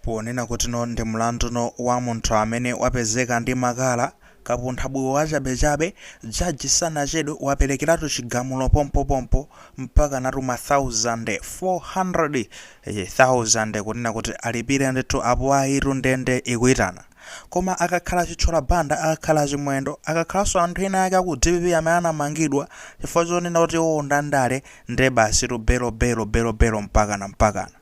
Ponena kuti no ndi mlandu no wa munthu amene wapezeka ndi makala, kapunthabuye wachabechabe, jaji sanachedwe wapelekeratu chigamulo pompopompo mpakanatu mathauzande 400,000 kunena kuti alipire ndithu apo ayitu ndende ikuitana. Koma akakhala Chithyola Banda, akakhala Chimwendo, akakhalanso anthu ena ake aku DPP amene anamangidwa chifukwa chonena kuti iwowo ndandale nde basitu belo belo belo belo mpakana mpakana.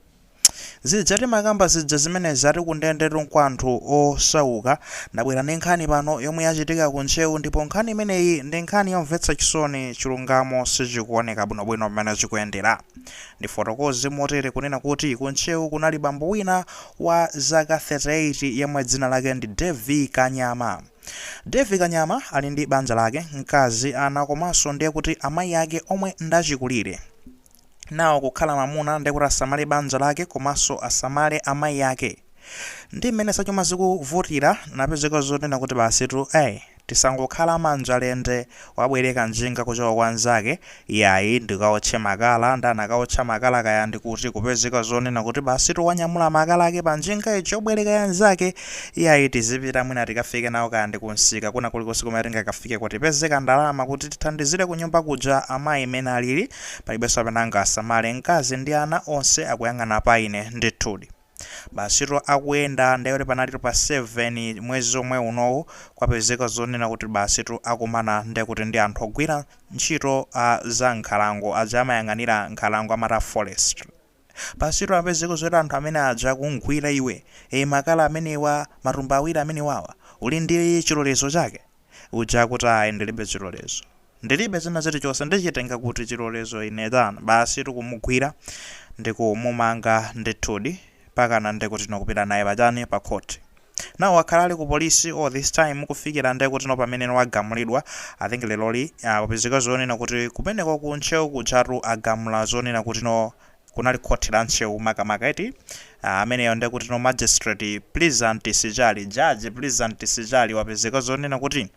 Zija timakamba zija zimenezi ati kundendetu nkwa anthu osauka. Ndabwera ndi nkhani pano yomwe yachitika ku Ntcheu ndipo nkhani imeneyi ndi nkhani yomvetsa chisoni chilungamo sichikuoneka bwinobwino pamene chikuyendera. Ndifotokoze motere kunena kuti ku Ntcheu kunali bambo wina wa zaka 38 yemwe dzina lake ndi Davie Kanyama. Davie Kanyama ali ndi banja lake, mkazi, ana komanso ndiye kuti amayi ake omwe ndachikulire. nawo kukhala mamuna ndekuti asamale banja lake komanso asamale amayi ake ndi mmene zachuma zikuvutira napezeka zonena kuti basitu ayi tisangokhala manja lende wabwereka njinga kuchoka kwa nzake yayi ndikaotche makala nde anakaotcha makala kaya ndikuti kupezeka zonena kuti basitu wanyamula makala ake pa njinga ija yobwereka ya nzake yayi tizipita mwina tikafike nawo kaya ndi kumsika kena kulikonse kumene tingakafike kuti tipezeko ndalama kuti tithandizire kunyumba kuja amayi mene alili Palibenso amene angasamale mkazi ndi ana, onse akuyang'ana pa ine. Ndithudi. Basitu akuyenda, ndiye kuti panalitu pa 7, mwezi omwe unowu, kwapezeka zonena kuti basitu akumana ndiye kuti ndi anthu ogwira ntchito a za nkhalango, aja amayang'anira nkhalango amati a forestry. Basitu apezeka zoti anthu amene aja akumgwira iwe ee makala amenewa matumba awiri amenewawa uli ndi chilolezo chake? Uja akuti ayi ndilibe chilolezo ndilibe china chilichonse ndichitenga kuti chilolezo ine chanu basitu kumugwira ndikumumanga ndithudi mpakana ndekutino kupita naye pachani pa khoti. Now wakhala ali ku polisi all this time kufikira nde kutino pamene wagamulidwa. I think leroli uh, wapezeka zonena kuti kumeneko ku Ntcheu kujatu agamula zonena kutino kunali khoti la Ntcheu makamaka eti uh, ameneyo nde kutino magistrate Pleasant Sichali, judge Pleasant Sichali wapezeka zonena kuti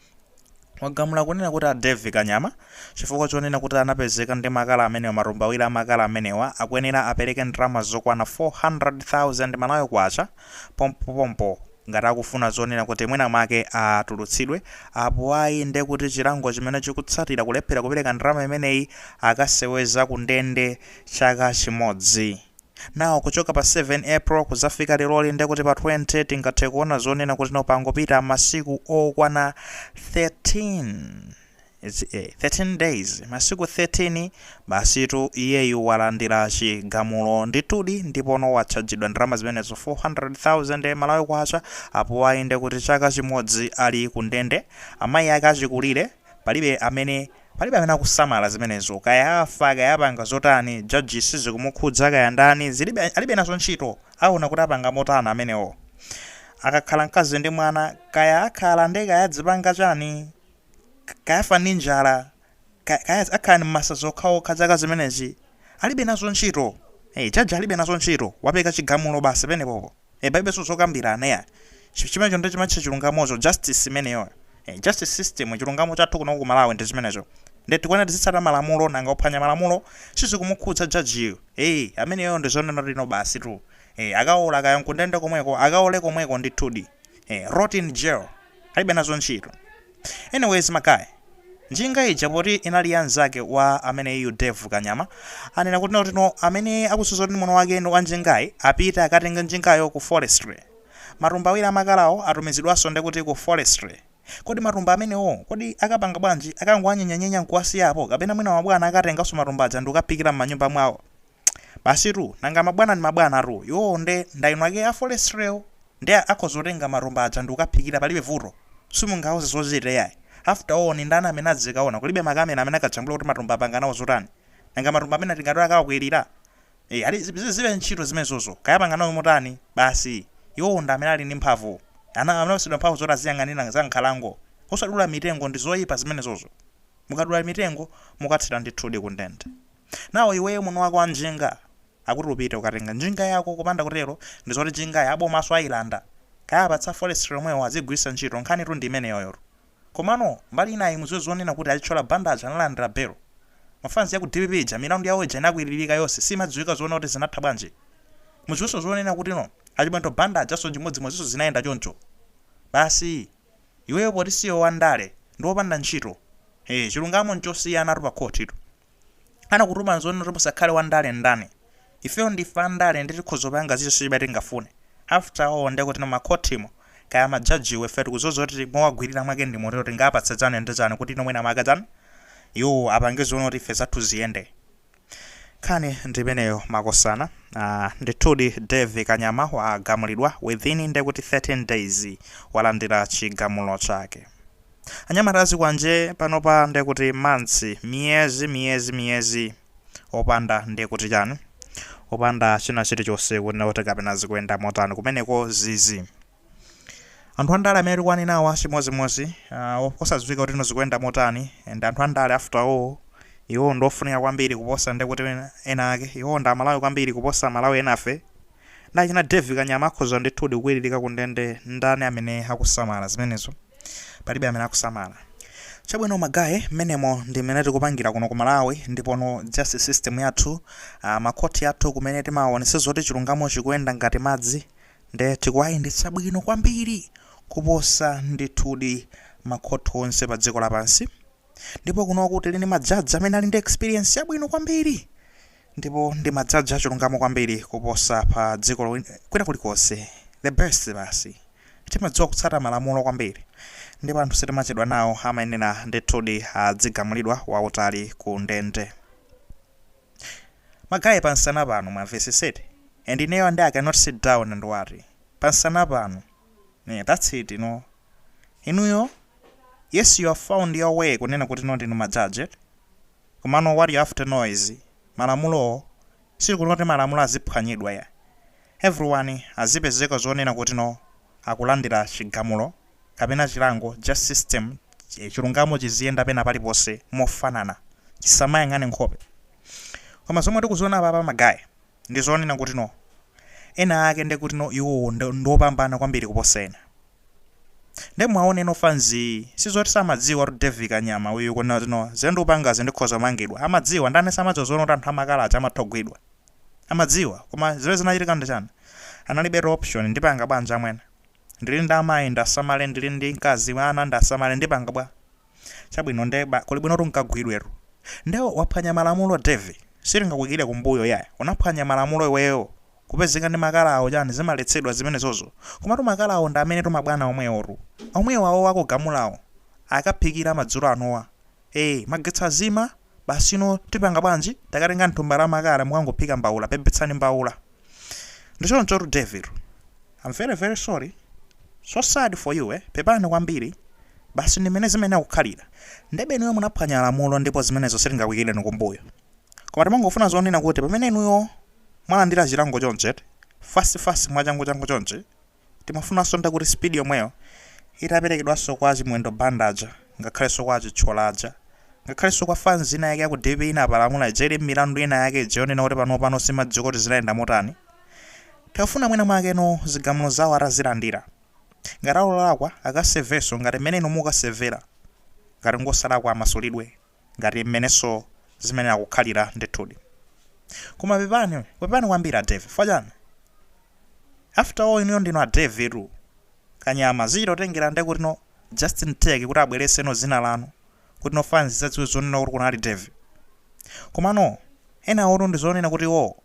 wagamula kunena kuti a Davie Kanyama chifukwa chonena kuti anapezeka ndi makala amenewa matumba awiri a makala amenewa akuyenera apereke ndalama zokwana 400,000 Malawi Kwacha pompopompo ngati akufuna zonena kuti mwina mwake atulutsidwe, apo ayi nde kuti chilango chimene chikutsatira kulephera kupereka ndalama imeneyi akaseweza kundende chaka chimodzi. Now kuchoka pa 7 April kudzafika leroli ndekuti pa 20 tingathe kuona zonena kutino pangopita masiku okwana 13 It's, eh, 13 days masiku 13 basitu iyeyu walandira chigamulo ndithudi ndipono watchajidwa ndalama zimenezo 400,000 malawi kwacha apo ayi ndekuti chaka chimodzi ali kundende amayi ake achikulire palibe amene Palibe amene akusamala zimenezo kaya afa kaya apanga zotani judge sizikumukhudza kaya ndani zi alibe nazo ntchito aona kuti apanga motana amenewo akakhala mkazi ndi mwana kaya akhala ndi kaya azipanga chani kaya afa ndi njala kaya kaya akhala ndi masa zokhaokha chaka chimenechi alibe nazo ntchito judge alibe nazo ntchito wapereka chigamulo basi pamenepopo. e palibenso zokambirana ya chimenecho nde chimatchedwa chilungamocho justice imeneyo e, justice system chilungamo chathu kuno ku Malawi ndi chimenecho nde tikuona tizitsata malamulo nanga kuphwanya malamulo sizikumukhudza jajiyo e ameneyo ndi zonena lino basi tu e akaola kaya nkundende komweko akaole komweko ndithudi e rot in jail alibe nazo ntchito. Anyways ma guy, njinga ija poti inali ya nzake wa ameneyu Dave Kanyama, anena kutino kutino amene akudziwa kuti ndi mwini wake wa njingayi apite akatenge njingayo ku forestry. Matumba awiri a makalawo atumizidwanso nde kuti ku forestry. Kodi matumba amenewo kodi akapanga bwanji? Akangowanyenyanyenya nkuwasiya apo kapena mwina mabwana akatenganso matumba aja ndikukaphikira mmanyumba mwawo? Basitu, nanga mabwana ndi mabwanatu, iwowo nde ndi eni ake a forestry'wo? Ndi akhoza kutenga matumba aja ndikukaphikira palibe vuto? Simungawauze zochita iyayi? After all ndi ndani amene azikaona? Kulibe ma camera amene akajambula kuti matumba apanga nawo zotani? Nanga matumba amenewo tingati akawakwirira? Eya, alibe ntchito zimenezozo, kaya apanga nawo motani, basi iwowo ndi amene ali ndi mphamvu. Ana anapatsidwa mphamvu zoti aziyang'anira za mnkhalango, osadula mitengo, ndizoipa zimenezozo. Mukadula mitengo, mukathera ndithudi kundende. Now iweyo mwini wake wa njinga akuti upite ukatenge njinga yako kupanda kutero ndizoti njingayi abomaso ayilanda kaya apatsa forestry omwewo aziyigwiritsa ntchito nkhanitu ndi imeneyoyotu komano mbali inayi muziwe zonena kuti a Chithyola Banda aja analandira bail ma fans aku dpp aja milandu yawo ija inakwiririka yose sizimadziwika zonena kuti zinatha bwanji muziweso zonena kutino a Chimwendo Banda ajaso nchimodzimodziso zinayenda choncho basi iweyo poti siwe wa ndale ndiwe opanda ntchito ee chilungamo nchosiyanatu pa khothi tu. anakutumani zonena kuti musakhale wandale ndani ifeyo ndife andale ndi tikhoza kupanga chilichonse chimene tingafune after all ndekuti makhotimo kaya majajiwo ife tikudziwa zoti mowagwirira mwake ndi motero tingapatsa chani ndi chani kutino mwina mwake chani iwo apange zonena kuti ife zathu ziyende nkhani ndimeneyo makosana uh, ndithudi Dave Kanyama wagamulidwa within ndekuti 13 days walandira chigamulo chake Anyamata a zikwanje panopa nde kuti months miyezi miyezi miyezi opanda nde kuti chani opanda china chilichonse kunena kuti kapena zikuyenda motani kumeneko zii zii anthu andale amene tikwaninawa chimozimozi uh, osadziwika kuti no zikuyenda motani and anthu andale after all iwo ndofunika kwambiri kuposa nde kuti ena ake iwo ndi amalawi kwambiri kuposa amalawi enafe Nde achina Dave kanyama akhoza ndithudi kuwiririka ku ndende ndani amene akusamala zimenezo? Palibe amene akusamala. Chabwino magaye mmenemo ndi mmene tikupangira kuno ku Malawi ndipono justice system yathu aah makhothi athu kumene timaonetsa zoti chilungamo chikuyenda ngati madzi nde tikuwayendetsa bwino kwambiri kuposa ndithudi makhothi onse pa dziko lapansi ndipo kunoko tili ndi majaji amene ali ndi experience yabwino kwambiri Ndipo ndi majaji achilungamo kwambiri kuposa pa dziko lo, kwina kulikonse. The best basi. Timadziwa kutsata malamulo kwambiri. Ndipo anthu sitimachedwa nawo, amayenera ndithudi azigamulidwa wautali ku ndende. Magaye pansana panu, mwamvesesete? And ineyo and I cannot sit down and worry. Pansana panu. Yeah, that's it, you know. Inuyo, yes you have found your way kunena kuti no ndinu majaji eti? Komano what you have to know is malamulowo sili kuti malamulo aziphwanyidwa ya everyone azipezeka zonena kuti no akulandira chigamulo kapena chilango justice system chilungamo chiziyenda pena paliponse mofanana chisamayang'ane nkhope koma zomwe tikuziona apapa magaye Ndi zonena kuti no, enaake nde kuti no iwowo nd ndiopambana kwambiri kuposa ena. Nde mwaona ino fans yi, sizoti samadziwa kuti Davie Kanyama uyu kunena kuti no, zimene ndikupangazi ndikhoza kumangidwa. Amadziwa, ndani samadziwa zonena kuti anthu amakala aja amatha kugwidwa? Amadziwa, koma zimene zinachitika ndi chani? Analibetu option, ndipanga bwanji amwene? Ndili ndi amayi, ndasamale, ndili ndi mkazi, ana, ndasamale, ndipanga bwa? chabwino nde bola kuli bwinotu nkagwidwetu nde waphwanya malamulo devi sitingakuyikire kumbuyo iyayi unaphwanya malamulo iweyo kupezeka ndi makala awo chani zimaletsedwa zimenezozo komatu makala awo ndi amenetu mabwana omwewotu omwewo awowo akugamulawo akaphikire madzulo anowa ee magetsi azima basi no tipanga bwanji akatenge thumba la makala mukangophika mbaula pepetsani mbaula ndi chonchotu devitu Am very very sorry, so sad for you eh, pepani kwambiri, basi ndi mmene zimayenera kukhalira, ndebe inuyo munaphwanya malamulo ndipo zimenezo sitingakuikireni kumbuyo koma timangofuna zonena kuti pamene inuyo mwalandira chilango chonchi eti, fast fast mwachangu changu chonchi, timafunanso nde kuti speed yomweyo itaperekedwanso kwa a Chimwendo Banda aja, ngakhalenso kwa a Chithyola aja, ngakhalenso kwa fans ina yake ya ku dpp inapalamula ija ili mmilandu ina yake ija yonena kuti panopano simadziwika kuti zinayenda motani. Tikafuna mwina mwake no zigamulo zawo atazilandira. Ngati ali olakwa akasevenso ngati mmene inu mukasevera. Ngati ngosalakwa amasulidwe ngati mmenenso zimayenera kukhalira ndithudi. Koma pepani, pepani kwambiri a Dave. Chifukwa chani? After all inuyo ndinu a Dave tu. Kanyama, zichita kutengera nde kutino Justin Tech kuti abweretseno dzina lanu. Kutino fans idzadziwe zonena kuti kunali Dave. Komano, enawotu ndi zonena kuti iwowo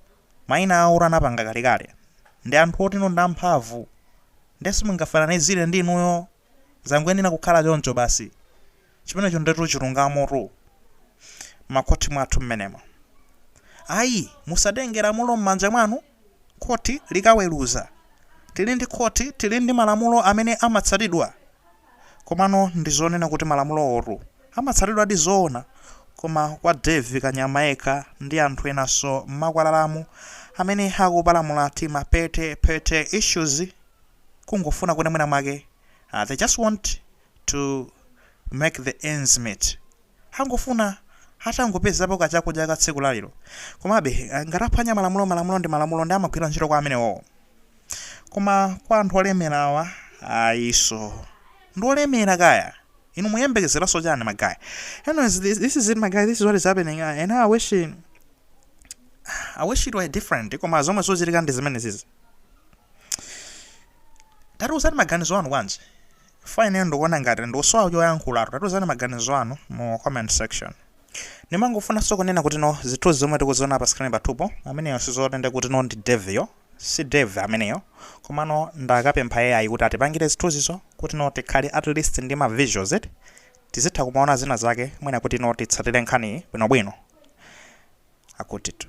maina awotu anapanga kalekale. Ndi anthu otino ndi amphamvu nde simungafananizire ndi inuyo zangoyenera kukhala choncho basi. Chimenecho ndetu chilungamotu. M'makhothi mwathu m'menemo. Ayi, musatenge lamulo m'manja mwanu khothi likaweruza. Tili ndi khothi, tili ndi malamulo amene amatsatidwa. Komano ndi zonena kuti malamulowotu amatsatidwadi zoona? Koma kwa Davie Kanyama yekha ndi anthu enanso m'makwalalamu amene akupalamula tima petty petty issues kungofuna kuti mwina mwake they just want to make the ends meet. Angofuna atangopezapo ka chakudya ka tsiku la lero. Komabe, ngati aphwanya malamulo, malamulo ndi malamulo ndi amagwira ntchito kwa amenewowo. Koma kwa anthu olemerawa, ayiso. Ndi olemera kaya. Inu muyembekezeraso chani ma guy. Anyways, this, this is it my guy. This is what is happening. Uh, and I wish I wish it were different koma zomwe zikuchitika ndi zimenezizi. Tatiuzani maganizo anu bwanji. Chifukwa ineyo ndikuona ngati ndikusowa choyankhulatu. Tatiuzani maganizo anu mu comment section. Ndimangofunanso kunena kuti no zithunzi zomwe tikuziona pa screen pathupo, ameneyo sizoti nde kuti no ndi Dave yo. Si Dave ameneyo. Komano ndakapempha AI kuti atipangire zithunzizo kuti no tikhale at least ndi ma visuals eti. Tizitha kumaona zina zake mwina kuti no titsatire nkhaniyi bwinobwino. Akutitu.